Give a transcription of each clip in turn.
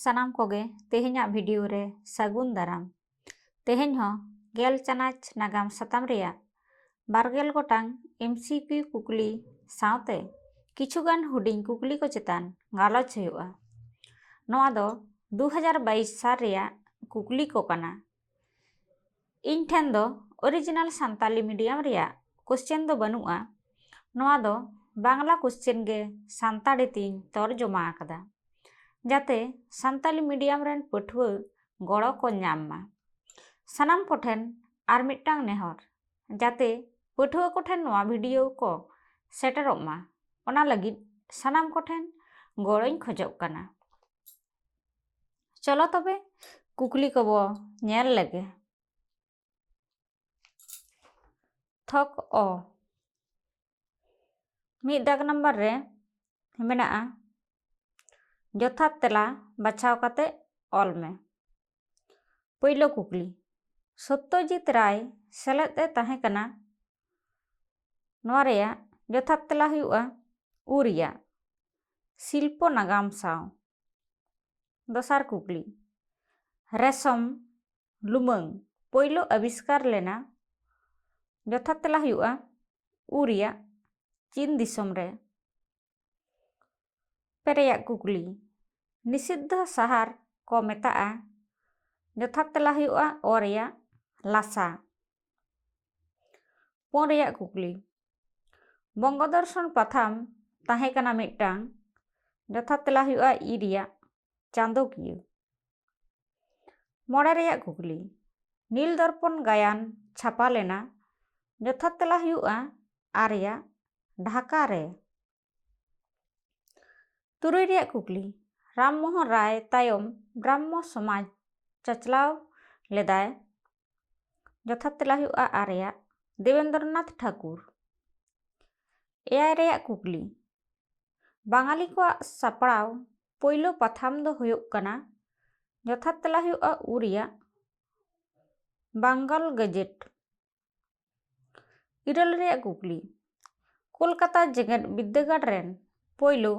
ᱥᱟᱱᱟᱢ ᱠᱚᱜᱮ ᱛᱮᱦᱮᱧᱟᱜ ᱵᱷᱤᱰᱤᱭᱳ ᱨᱮ ᱥᱟᱹᱜᱩᱱ ᱫᱟᱨᱟᱢ ᱛᱮᱦᱮᱧ ᱦᱚᱸ ᱜᱮᱞ ᱪᱟᱱᱟᱪ ᱱᱟᱜᱟᱢ ᱥᱟᱛᱟᱢ ᱨᱮᱭᱟᱜ ᱵᱟᱨᱜᱮᱞ ᱜᱚᱴᱟᱝ ᱮᱢ ᱥᱤ ᱠᱤ ᱠᱩᱠᱞᱤ ᱥᱟᱶᱛᱮ ᱠᱤᱪᱷᱩᱜᱟᱱ ᱦᱩᱰᱤᱧ ᱠᱩᱠᱞᱤ ᱠᱚ ᱪᱮᱛᱟᱱ ᱜᱟᱞᱚᱪ ᱦᱩᱭᱩᱜᱼᱟ ᱱᱚᱣᱟ ᱫᱚ ᱫᱩ ᱦᱟᱡᱟᱨ ᱵᱟᱭᱤᱥ ᱥᱟᱞ ᱨᱮᱭᱟᱜ ᱠᱩᱠᱞᱤ ᱠᱚ ᱠᱟᱱᱟ ᱤᱧ ᱴᱷᱮᱱ ᱫᱚ ᱚᱨᱤᱡᱤᱱᱟᱞ ᱥᱟᱱᱛᱟᱞᱤ ᱢᱤᱰᱤᱭᱟᱢ ᱨᱮᱭᱟᱜ ᱠᱚᱥᱪᱮᱱ ᱫᱚ ᱵᱟᱹᱱᱩᱜᱼᱟ ᱱᱚᱣᱟ ᱫᱚ ᱵᱟᱝᱞᱟ ᱠᱚᱥᱪᱮᱱ ᱜᱮ ᱥᱟᱱᱛᱟᱲᱤ ᱛᱤᱧ ᱛᱚᱨᱡᱚᱢᱟ ᱟᱠᱟᱫᱟ ᱡᱟᱛᱮ ᱥᱟᱱᱛᱟᱞᱤ ᱢᱤᱰᱤᱭᱟᱢ ᱨᱮᱱ ᱯᱟᱹᱴᱷᱩᱣᱟᱹ ᱜᱚᱲᱚ ᱠᱚ ᱧᱟᱢ ᱢᱟ ᱥᱟᱱᱟᱢ ᱠᱚᱴᱷᱮᱱ ᱟᱨ ᱢᱤᱫᱴᱟᱝ ᱱᱮᱦᱚᱨ ᱡᱟᱛᱮ ᱯᱟᱹᱴᱷᱩᱣᱟᱹ ᱠᱚᱴᱷᱮᱱ ᱱᱚᱣᱟ ᱵᱷᱤᱰᱤᱭᱳ ᱠᱚ ᱥᱮᱴᱮᱨᱚᱜ ᱢᱟ ᱚᱱᱟ ᱞᱟᱹᱜᱤᱫ ᱥᱟᱱᱟᱢ ᱠᱚᱴᱷᱮᱱ ᱜᱚᱲᱚᱧ ᱠᱷᱚᱡᱚᱜ ᱠᱟᱱᱟ ᱪᱚᱞᱚ ᱛᱚᱵᱮ ᱠᱩᱠᱞᱤ ᱠᱚᱵᱚ ᱧᱮᱞ ᱞᱮᱜᱮ ᱛᱷᱚᱠ ᱚ ᱢᱤᱫ ᱫᱟᱜᱽ ᱱᱟᱢᱵᱟᱨ ᱨᱮ ᱢᱮᱱᱟᱜᱼᱟ ᱡᱚᱛᱷᱟᱛ ᱛᱮᱞᱟ ᱵᱟᱪᱷᱟᱣ ᱠᱟᱛᱮ ᱚᱞ ᱢᱮ ᱯᱳᱭᱞᱳ ᱠᱩᱠᱞᱤ ᱥᱚᱛᱛᱚᱡᱤᱛ ᱨᱟᱭ ᱥᱮᱞᱮᱫ ᱮ ᱛᱟᱦᱮᱸ ᱠᱟᱱᱟ ᱱᱚᱣᱟ ᱨᱮᱭᱟᱜ ᱡᱚᱛᱷᱟᱛ ᱛᱮᱞᱟ ᱦᱩᱭᱩᱜᱼᱟ ᱩ ᱨᱮᱭᱟᱜ ᱥᱤᱞᱯᱚ ᱱᱟᱜᱟᱢ ᱥᱟᱶ ᱫᱚᱥᱟᱨ ᱠᱩᱠᱞᱤ ᱨᱮᱥᱚᱢ ᱞᱩᱢᱟᱹᱝ ᱯᱳᱭᱞᱳ ᱟᱵᱤᱥᱠᱟᱨ ᱞᱮᱱᱟ ᱡᱚᱛᱷᱟᱛ ᱛᱮᱞᱟ ᱦᱩᱭᱩᱜᱼᱟ ᱩ ᱨᱮᱭᱟᱜ ᱪᱤᱱ ᱫᱤᱥᱚᱢ ᱨᱮ ᱯᱮᱨᱮᱭᱟᱜ ᱠᱩᱠᱞᱤ ᱱᱤᱥᱤᱫᱽᱫᱷᱚ ᱥᱟᱦᱟᱨ ᱠᱚ ᱢᱮᱛᱟᱜᱼᱟ ᱡᱚᱛᱷᱟᱛ ᱛᱮᱞᱟ ᱦᱩᱭᱩᱜᱼᱟ ᱚ ᱨᱮᱭᱟᱜ ᱞᱟᱥᱟ ᱯᱩᱱ ᱨᱮᱭᱟᱜ ᱠᱩᱠᱞᱤ ᱵᱚᱝᱜᱚ ᱫᱚᱨᱥᱚᱱ ᱯᱟᱛᱷᱟᱢ ᱛᱟᱦᱮᱸ ᱠᱟᱱᱟ ᱢᱤᱫᱴᱟᱝ ᱡᱚᱛᱷᱟᱛ ᱛᱮᱞᱟ ᱦᱩᱭᱩᱜᱼᱟ ᱤ ᱨᱮᱭᱟᱜ ᱪᱟᱸᱫᱚᱠᱤᱭᱟᱹ ᱢᱚᱬᱮ ᱨᱮᱭᱟᱜ ᱠᱩᱠᱞᱤ ᱱᱤᱞ ᱫᱚᱨᱯᱚᱱ ᱜᱟᱭᱟᱱ ᱪᱷᱟᱯᱟ ᱞᱮᱱᱟ ᱡᱚᱛᱷᱟᱛ ᱛᱮᱞᱟ ᱦᱩᱭᱩᱜᱼᱟ ᱟᱨᱭᱟ ᱰᱷᱟᱠᱟ ᱨᱮ ᱛᱩᱨᱩᱭ ᱨᱮᱭᱟᱜ ᱠᱩᱠᱞᱤ ᱨᱟᱢ ᱢᱳᱦᱚᱱ ᱨᱟᱭ ᱛᱟᱭᱚᱢ ᱵᱨᱟᱦᱢᱚ ᱥᱚᱢᱟᱡᱽ ᱪᱟᱪᱞᱟᱣ ᱞᱮᱫᱟᱭ ᱡᱚᱛᱷᱟᱛ ᱛᱮᱞᱟ ᱦᱩᱭᱩᱜᱼᱟ ᱟᱨᱭᱟ ᱫᱮᱵᱮᱱᱫᱨᱚᱱᱟᱛᱷ ᱴᱷᱟᱠᱩᱨ ᱮᱭᱟᱭ ᱨᱮᱭᱟᱜ ᱠᱩᱠᱞᱤ ᱵᱟᱝᱟᱞᱤ ᱠᱚᱣᱟᱜ ᱥᱟᱯᱲᱟᱣ ᱯᱳᱭᱞᱳ ᱯᱟᱛᱷᱟᱢ ᱫᱚ ᱦᱩᱭᱩᱜ ᱠᱟᱱᱟ ᱡᱚᱛᱷᱟᱛ ᱛᱮᱞᱟ ᱦᱩᱭᱩᱜᱼᱟ ᱩ ᱨᱮᱭᱟᱜ ᱵᱟᱝᱜᱟᱞ ᱜᱮᱡᱮᱴ ᱤᱨᱟᱹᱞ ᱨᱮᱭᱟᱜ ᱠᱩᱠᱞᱤ ᱠᱳᱞᱠᱟᱛᱟ ᱡᱮᱜᱮᱛ ᱵᱤᱫᱽᱫᱟᱹᱜᱟᱲ ᱨᱮᱱ ᱯᱳᱭᱞᱳ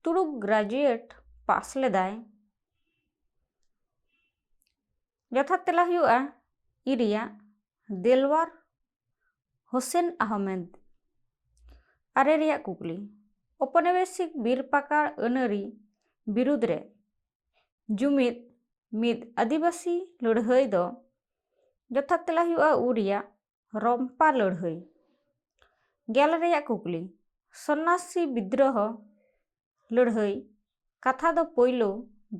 ᱛᱩᱲᱩᱠ ᱜᱨᱟᱡᱩᱭᱮᱴ ᱯᱟᱥ ᱞᱮᱫᱟᱭ ᱡᱚᱛᱷᱟᱛ ᱛᱮᱞᱟ ᱦᱩᱭᱩᱜᱼᱟ ᱤ ᱨᱮᱭᱟᱜ ᱫᱮᱞᱣᱟᱨ ᱦᱳᱥᱮᱱ ᱟᱦᱚᱢᱮᱫᱽ ᱟᱨᱮ ᱨᱮᱭᱟᱜ ᱠᱩᱠᱞᱤ ᱚᱯᱚᱱᱮᱵᱮᱥᱤᱠ ᱵᱤᱨ ᱯᱟᱠᱟᱲ ᱟᱹᱱᱟᱹᱨᱤ ᱵᱤᱨᱩᱫᱽ ᱨᱮ ᱡᱩᱢᱤᱫ ᱢᱤᱫ ᱟᱹᱫᱤᱵᱟᱹᱥᱤ ᱞᱟᱹᱲᱦᱟᱹᱭ ᱫᱚ ᱡᱚᱛᱷᱟᱛ ᱛᱮᱞᱟ ᱦᱩᱭᱩᱜᱼᱟ ᱩ ᱨᱮᱭᱟᱜ ᱨᱚᱢᱯᱟ ᱞᱟᱹᱲᱦᱟᱹᱭ ᱜᱮᱞ ᱨᱮᱭᱟᱜ ᱠᱩᱠᱞᱤ ᱥᱚᱱᱱᱟᱥᱤ ᱵᱤᱫᱽᱨᱚᱦᱚ ᱞᱟᱹᱲᱦᱟᱹᱭ ᱠᱟᱛᱷᱟ ᱫᱚ ᱯᱳᱭᱞᱳ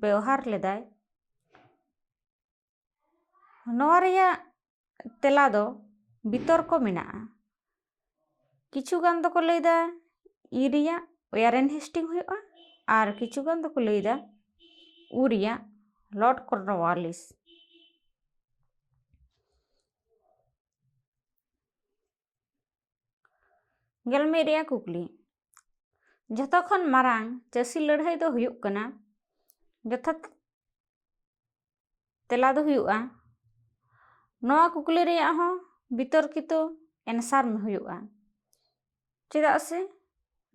ᱵᱮᱣᱦᱟᱨ ᱞᱮᱫᱟᱭ ᱱᱚᱣᱟ ᱨᱮᱭᱟᱜ ᱛᱮᱞᱟ ᱫᱚ ᱵᱤᱛᱚᱨᱠᱚ ᱢᱮᱱᱟᱜᱼᱟ ᱠᱤᱪᱷᱩ ᱜᱟᱱ ᱫᱚᱠᱚ ᱞᱟᱹᱭᱫᱟ ᱤ ᱨᱮᱭᱟᱜ ᱳᱭᱟᱨᱮᱱ ᱦᱮᱥᱴᱤᱝ ᱦᱩᱭᱩᱜᱼᱟ ᱟᱨ ᱠᱤᱪᱷᱩ ᱜᱟᱱ ᱫᱚᱠᱚ ᱞᱟᱹᱭᱫᱟ ᱩ ᱨᱮᱭᱟᱜ ᱞᱚᱨᱰ ᱠᱚᱨᱱᱚᱣᱟᱞᱤᱥ ᱜᱮᱞ ᱢᱤᱫ ᱨᱮᱭᱟᱜ ᱠᱩᱠᱞᱤ ᱡᱷᱚᱛᱚ ᱠᱷᱚᱱ ᱢᱟᱨᱟᱝ ᱪᱟᱹᱥᱤ ᱞᱟᱹᱲᱦᱟᱹᱭ ᱫᱚ ᱦᱩᱭᱩᱜ ᱠᱟᱱᱟ ᱡᱚᱛᱷᱟᱛ ᱛᱮᱞᱟ ᱫᱚ ᱦᱩᱭᱩᱜᱼᱟ ᱱᱚᱣᱟ ᱠᱩᱠᱞᱤ ᱨᱮᱭᱟᱜ ᱦᱚᱸ ᱵᱤᱛᱚᱨᱠᱤᱛᱚ ᱮᱱᱥᱟᱨ ᱦᱩᱭᱩᱜᱼᱟ ᱪᱮᱫᱟᱜ ᱥᱮ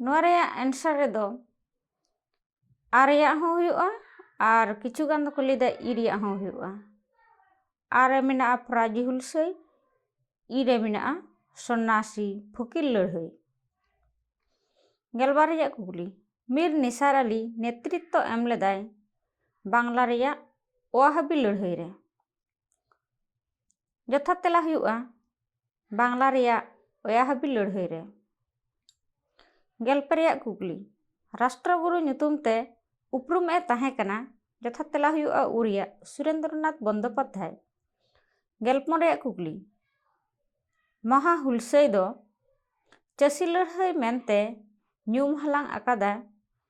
ᱱᱚᱣᱟ ᱨᱮᱭᱟᱜ ᱮᱱᱥᱟᱨ ᱨᱮᱫᱚ ᱟ ᱨᱮᱭᱟᱜ ᱦᱚᱸ ᱦᱩᱭᱩᱜᱼᱟ ᱟᱨ ᱠᱤᱪᱷᱩ ᱜᱟᱱ ᱫᱚᱠᱚ ᱞᱟᱹᱭᱫᱟ ᱤ ᱨᱮᱭᱟᱜ ᱦᱚᱸ ᱦᱩᱭᱩᱜᱼᱟ ᱟ ᱨᱮ ᱢᱮᱱᱟᱜᱼᱟ ᱯᱷᱚᱨᱟᱡᱤ ᱦᱩᱞᱥᱟᱹᱭ ᱤ ᱨᱮ ᱢᱮᱱᱟᱜᱼᱟ ᱥᱚᱱᱱᱟᱥᱤ ᱯᱷᱚᱠᱤᱨ ᱞᱟᱹᱲᱦᱟᱹᱭ ᱜᱮᱞᱵᱟᱨ ᱨᱮᱭᱟᱜ ᱠᱩᱠᱞᱤ ᱢᱤᱨ ᱱᱤᱥᱟᱨ ᱟᱞᱤ ᱱᱮᱛᱨᱤᱛᱛᱚ ᱮᱢ ᱞᱮᱫᱟᱭ ᱵᱟᱝᱞᱟ ᱨᱮᱭᱟᱜ ᱚᱣᱟᱦᱟᱵᱤ ᱞᱟᱹᱲᱦᱟᱹᱭ ᱨᱮ ᱡᱚᱛᱷᱟᱛ ᱛᱮᱞᱟ ᱦᱩᱭᱩᱜᱼᱟ ᱵᱟᱝᱞᱟ ᱨᱮᱭᱟᱜ ᱚᱭᱟᱦᱟᱵᱤ ᱞᱟᱹᱲᱦᱟᱹᱭ ᱨᱮ ᱜᱮᱞ ᱯᱮ ᱨᱮᱭᱟᱜ ᱠᱩᱠᱞᱤ ᱨᱟᱥᱴᱨᱚ ᱜᱩᱨᱩ ᱧᱩᱛᱩᱢ ᱛᱮ ᱩᱯᱨᱩᱢ ᱮ ᱛᱟᱦᱮᱸ ᱠᱟᱱᱟ ᱡᱚᱛᱷᱟᱛ ᱛᱮᱞᱟ ᱦᱩᱭᱩᱜᱼᱟ ᱩᱨᱤᱭᱟ ᱥᱩᱨᱮᱱᱫᱨᱚᱱᱟᱛᱷ ᱵᱚᱱᱫᱳᱯᱟᱫᱽᱫᱷᱟᱭ ᱜᱮᱞ ᱯᱩᱱ ᱨᱮᱭᱟᱜ ᱠᱩᱠᱞᱤ ᱢᱚᱦᱟ ᱦᱩᱞᱥᱟᱹᱭ ᱫᱚ ᱪᱟᱹᱥᱤ ᱞᱟᱹᱲᱦᱟᱹᱭ ᱢᱮᱱᱛᱮ ᱧᱩᱢ ᱦᱟᱞᱟᱝ ᱟᱠᱟᱫᱟ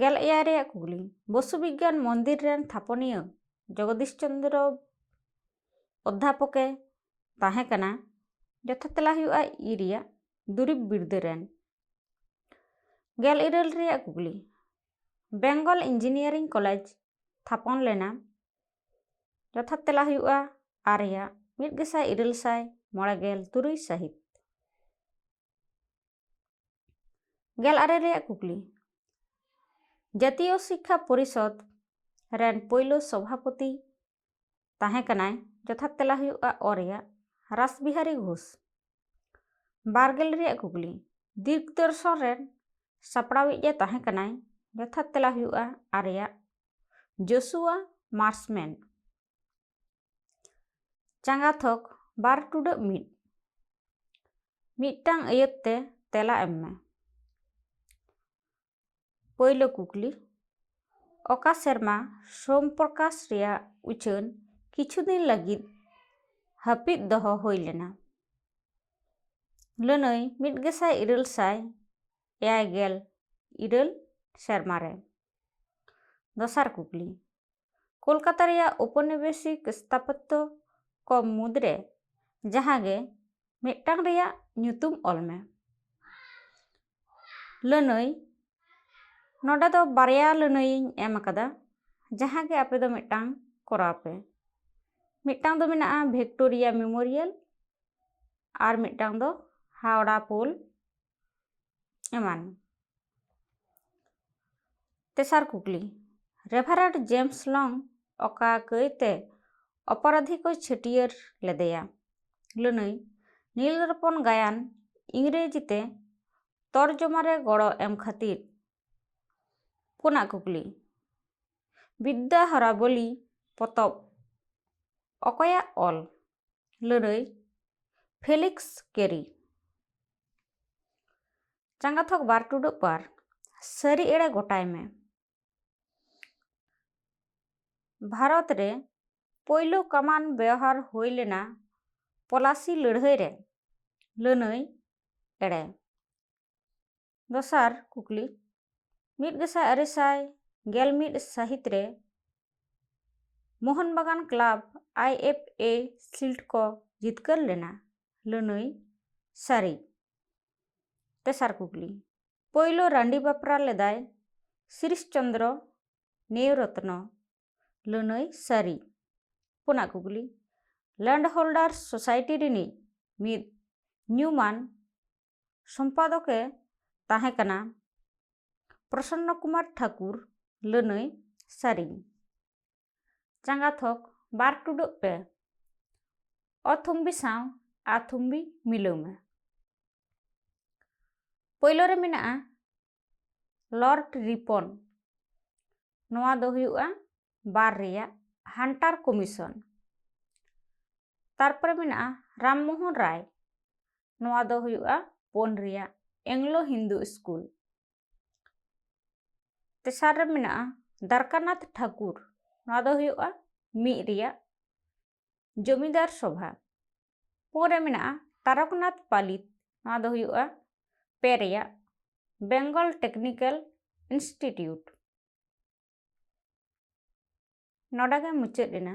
ᱜᱮᱞ ᱮᱭᱟᱭ ᱨᱮᱭᱟᱜ ᱠᱩᱠᱞᱤ ᱵᱚᱥᱩ ᱵᱤᱜᱽᱜᱟᱱ ᱢᱚᱱᱫᱤᱨ ᱨᱮᱱ ᱛᱷᱟᱯᱚᱱᱤᱭᱟᱹ ᱡᱚᱜᱚᱫᱤᱥ ᱪᱚᱱᱫᱨᱚ ᱚᱫᱽᱫᱷᱟᱯᱚᱠᱮ ᱛᱟᱦᱮᱸ ᱠᱟᱱᱟ ᱡᱚᱛᱷᱟᱛ ᱛᱮᱞᱟ ᱦᱩᱭᱩᱜᱼᱟ ᱤ ᱨᱮᱭᱟᱜ ᱫᱩᱨᱤᱵᱽ ᱵᱤᱨᱫᱟᱹ ᱨᱮᱱ ᱜᱮᱞ ᱤᱨᱟᱹᱞ ᱨᱮᱭᱟᱜ ᱠᱩᱠᱞᱤ ᱵᱮᱝᱜᱚᱞ ᱤᱧᱡᱤᱱᱤᱭᱟᱨᱤᱝ ᱠᱚᱞᱮᱡᱽ ᱛᱷᱟᱯᱚᱱ ᱞᱮᱱᱟ ᱡᱚᱛᱷᱟᱛ ᱛᱮᱞᱟ ᱦᱩᱭᱩᱜᱼᱟ ᱟᱨ ᱨᱮᱭᱟᱜ ᱢᱤᱫ ᱜᱮᱥᱟᱭ ᱤᱨᱟᱹᱞ ᱥᱟᱭ ᱢᱚᱬᱮ ᱜᱮᱞ ᱛᱩᱨᱩᱭ ᱥᱟᱹᱦᱤᱛ ᱜᱮᱞ ᱟᱨᱮ ᱨᱮᱭᱟᱜ ᱠᱩᱠᱞᱤ ᱡᱟᱛᱤᱭᱚ ᱥᱤᱠᱠᱷᱟ ᱯᱚᱨᱤᱥᱚᱫᱽ ᱨᱮᱱ ᱯᱳᱭᱞᱳ ᱥᱚᱵᱷᱟᱯᱚᱛᱤ ᱛᱟᱦᱮᱸ ᱠᱟᱱᱟᱭ ᱡᱚᱛᱷᱟᱛ ᱛᱮᱞᱟ ᱦᱩᱭᱩᱜᱼᱟ ᱚ ᱨᱮᱭᱟᱜ ᱨᱟᱥᱵᱤᱦᱟᱨᱤ ᱜᱷᱳᱥ ᱵᱟᱨᱜᱮᱞ ᱨᱮᱭᱟᱜ ᱠᱩᱠᱞᱤ ᱫᱤᱜᱽᱫᱚᱨᱥᱚᱱ ᱨᱮᱱ ᱥᱟᱯᱲᱟᱣᱤᱡ ᱮ ᱛᱟᱦᱮᱸ ᱠᱟᱱᱟᱭ ᱡᱚᱛᱷᱟᱛ ᱛᱮᱞᱟ ᱦᱩᱭᱩᱜᱼᱟ ᱟᱨᱮᱭᱟᱜ ᱡᱳᱥᱩᱣᱟ ᱢᱟᱨᱥᱢᱮᱱ ᱪᱟᱸᱜᱟ ᱛᱷᱚᱠ ᱵᱟᱨ ᱴᱩᱰᱟᱹᱜ ᱢᱤᱫ ᱢᱤᱫᱴᱟᱝ ᱟᱹᱭᱟᱹᱛ ᱛᱮ ᱛᱮᱞᱟ ᱮᱢ ᱢᱮ ᱯᱳᱭᱞᱳ ᱠᱩᱠᱞᱤ ᱚᱠᱟ ᱥᱮᱨᱢᱟ ᱥᱳᱢ ᱯᱨᱚᱠᱟᱥ ᱨᱮᱭᱟᱜ ᱩᱪᱷᱟᱹᱱ ᱠᱤᱪᱷᱩ ᱫᱤᱱ ᱞᱟᱹᱜᱤᱫ ᱦᱟᱹᱯᱤᱫ ᱫᱚᱦᱚ ᱦᱩᱭ ᱞᱮᱱᱟ ᱞᱟᱹᱱᱟᱹᱭ ᱢᱤᱫ ᱜᱮᱥᱟᱭ ᱤᱨᱟᱹᱞ ᱥᱟᱭ ᱮᱭᱟᱭ ᱜᱮᱞ ᱤᱨᱟᱹᱞ ᱥᱮᱨᱢᱟ ᱨᱮ ᱫᱚᱥᱟᱨ ᱠᱩᱠᱞᱤ ᱠᱳᱞᱠᱟᱛᱟ ᱨᱮᱭᱟᱜ ᱳᱯᱚᱱᱤᱵᱮᱥᱤᱠ ᱥᱛᱷᱟᱯᱚᱛᱛᱚ ᱠᱚ ᱢᱩᱫᱽ ᱨᱮ ᱡᱟᱦᱟᱸ ᱜᱮ ᱢᱤᱫᱴᱟᱝ ᱨᱮᱭᱟᱜ ᱧᱩᱛᱩᱢ ᱚᱞ ᱢᱮ ᱞᱟᱹᱱᱟᱹᱭ ᱱᱚᱰᱮ ᱫᱚ ᱵᱟᱨᱭᱟ ᱞᱟᱹᱱᱟᱹᱭᱤᱧ ᱮᱢ ᱟᱠᱟᱫᱟ ᱡᱟᱦᱟᱸ ᱜᱮ ᱟᱯᱮ ᱫᱚ ᱢᱤᱫᱴᱟᱝ ᱠᱚᱨᱟᱣ ᱯᱮ ᱢᱤᱫᱴᱟᱝ ᱫᱚ ᱢᱮᱱᱟᱜᱼᱟ ᱵᱷᱤᱠᱴᱳᱨᱤᱭᱟ ᱢᱮᱢᱳᱨᱤᱭᱟᱞ ᱟᱨ ᱢᱤᱫᱴᱟᱝ ᱫᱚ ᱦᱟᱣᱲᱟ ᱯᱳᱞ ᱮᱢᱟᱱ ᱛᱮᱥᱟᱨ ᱠᱩᱠᱞᱤ ᱨᱮᱵᱷᱟᱨᱮᱰ ᱡᱮᱢᱥ ᱞᱚᱝ ᱚᱠᱟ ᱠᱟᱹᱭᱛᱮ ᱚᱯᱚᱨᱟᱫᱷᱤ ᱠᱚ ᱪᱷᱟᱹᱴᱭᱟᱹᱨ ᱞᱮᱫᱮᱭᱟ ᱞᱟᱹᱱᱟᱹᱭ ᱱᱤᱞ ᱨᱚᱯᱚᱱ ᱜᱟᱭᱟᱱ ᱤᱝᱨᱮᱡᱤ ᱛᱮ ᱛᱚᱨᱡᱚᱢᱟ ᱨᱮ ᱜᱚᱲᱚ ᱮᱢ ᱠᱷᱟᱹᱛᱤᱨ ᱯᱩᱱᱟᱜ ᱠᱩᱠᱞᱤ ᱵᱤᱫᱽᱫᱟ ᱦᱚᱨᱟᱵᱚᱞᱤ ᱯᱚᱛᱚᱵ ᱚᱠᱚᱭᱟᱜ ᱚᱞ ᱞᱟᱹᱲᱟᱹᱭ ᱯᱷᱮᱞᱤᱠᱥ ᱠᱮᱨᱤ ᱪᱟᱸᱜᱟ ᱛᱷᱚᱠ ᱵᱟᱨ ᱴᱩᱰᱩᱜ ᱯᱟᱨ ᱥᱟᱹᱨᱤ ᱮᱲᱮ ᱜᱚᱴᱟᱭ ᱢᱮ ᱵᱷᱟᱨᱚᱛ ᱨᱮ ᱯᱳᱭᱞᱳ ᱠᱟᱢᱟᱱ ᱵᱮᱣᱦᱟᱨ ᱦᱩᱭ ᱞᱮᱱᱟ ᱯᱚᱞᱟᱥᱤ ᱞᱟᱹᱲᱦᱟᱹᱭ ᱨᱮ ᱞᱟᱹᱱᱟᱹᱭ ᱮᱲᱮ ᱫᱚᱥᱟᱨ ᱠᱩᱠᱞᱤ ᱢᱤᱫ ᱜᱮᱥᱟᱭ ᱟᱨᱮ ᱥᱟᱭ ᱜᱮᱞ ᱢᱤᱫ ᱥᱟᱹᱦᱤᱛ ᱨᱮ Mohun Bagan club I F A shield ᱠᱚ ᱡᱤᱛᱠᱟᱹᱨ ᱞᱮᱱᱟ ᱞᱟᱹᱱᱟᱹᱭ ᱥᱟᱹᱨᱤ ᱛᱮᱥᱟᱨ ᱠᱩᱠᱞᱤ ᱯᱳᱭᱞᱳ ᱨᱟᱺᱰᱤ ᱵᱟᱯᱨᱟ ᱞᱮᱫᱟᱭ ᱥᱤᱨᱤᱥ ᱪᱚᱱᱫᱨᱚ ᱱᱮᱣ ᱨᱚᱛᱱᱚ ᱞᱟᱹᱱᱟᱹᱭ ᱥᱟᱹᱨᱤ ᱯᱩᱱᱟᱜ ᱠᱩᱠᱞᱤ ᱞᱮᱱᱰ ᱦᱳᱞᱰᱟᱨ ᱥᱳᱥᱟᱭᱴᱤ ᱨᱤᱱᱤᱡ ᱢᱤᱫ ᱧᱩᱢᱟᱱ ᱥᱚᱢᱯᱟᱫᱚᱠᱮ ᱛᱟᱦᱮᱸ ᱠᱟᱱᱟ ᱯᱨᱚᱥᱚᱱᱱᱚ ᱠᱩᱢᱟᱨ ᱴᱷᱟᱠᱩᱨ ᱞᱟᱹᱱᱟᱹᱭ ᱥᱟᱹᱨᱤᱧ ᱪᱟᱸᱜᱟ ᱛᱷᱚᱠ ᱵᱟᱨ ᱴᱩᱰᱟᱹᱜ ᱯᱮ ᱚᱛᱷᱩᱢᱵᱤ ᱥᱟᱶ ᱟᱛᱷᱩᱢᱵᱤ ᱢᱤᱞᱟᱹᱣ ᱢᱮ ᱯᱳᱭᱞᱳ ᱨᱮ ᱢᱮᱱᱟᱜᱼᱟ ᱞᱚᱨᱰ ᱨᱤᱯᱚᱱ ᱱᱚᱣᱟ ᱫᱚ ᱦᱩᱭᱩᱜᱼᱟ ᱵᱟᱨ ᱨᱮᱭᱟᱜ ᱦᱟᱱᱴᱟᱨ ᱠᱚᱢᱤᱥᱚᱱ ᱛᱟᱨᱯᱚᱨᱮ ᱢᱮᱱᱟᱜᱼᱟ ᱨᱟᱢᱢᱳᱦᱚᱱ ᱨᱟᱭ ᱱᱚᱣᱟ ᱫᱚ ᱦᱩᱭᱩᱜᱼᱟ ᱯᱳᱱ ᱨᱮᱭᱟᱜ ᱮᱝᱞᱳ ᱦᱤᱱᱫᱩ ᱥᱠᱩᱞ ᱛᱮᱥᱟᱨ ᱨᱮ ᱢᱮᱱᱟᱜᱼᱟ ᱫᱟᱨᱠᱟᱱᱟᱛᱷ ᱴᱷᱟᱠᱩᱨ ᱱᱚᱣᱟ ᱫᱚ ᱦᱩᱭᱩᱜᱼᱟ ᱢᱤᱫ ᱨᱮᱭᱟᱜ ᱡᱚᱢᱤᱫᱟᱨ ᱥᱚᱵᱷᱟ ᱯᱩᱱ ᱨᱮ ᱢᱮᱱᱟᱜᱼᱟ ᱛᱟᱨᱚᱠᱱᱟᱛᱷ ᱯᱟᱞᱤᱛ ᱱᱚᱣᱟ ᱫᱚ ᱦᱩᱭᱩᱜᱼᱟ ᱯᱮ ᱨᱮᱭᱟᱜ ᱵᱮᱝᱜᱚᱞ ᱴᱮᱠᱱᱤᱠᱮᱞ ᱤᱱᱥᱴᱤᱴᱤᱭᱩᱴ ᱱᱚᱰᱮ ᱜᱮ ᱢᱩᱪᱟᱹᱫ ᱮᱱᱟ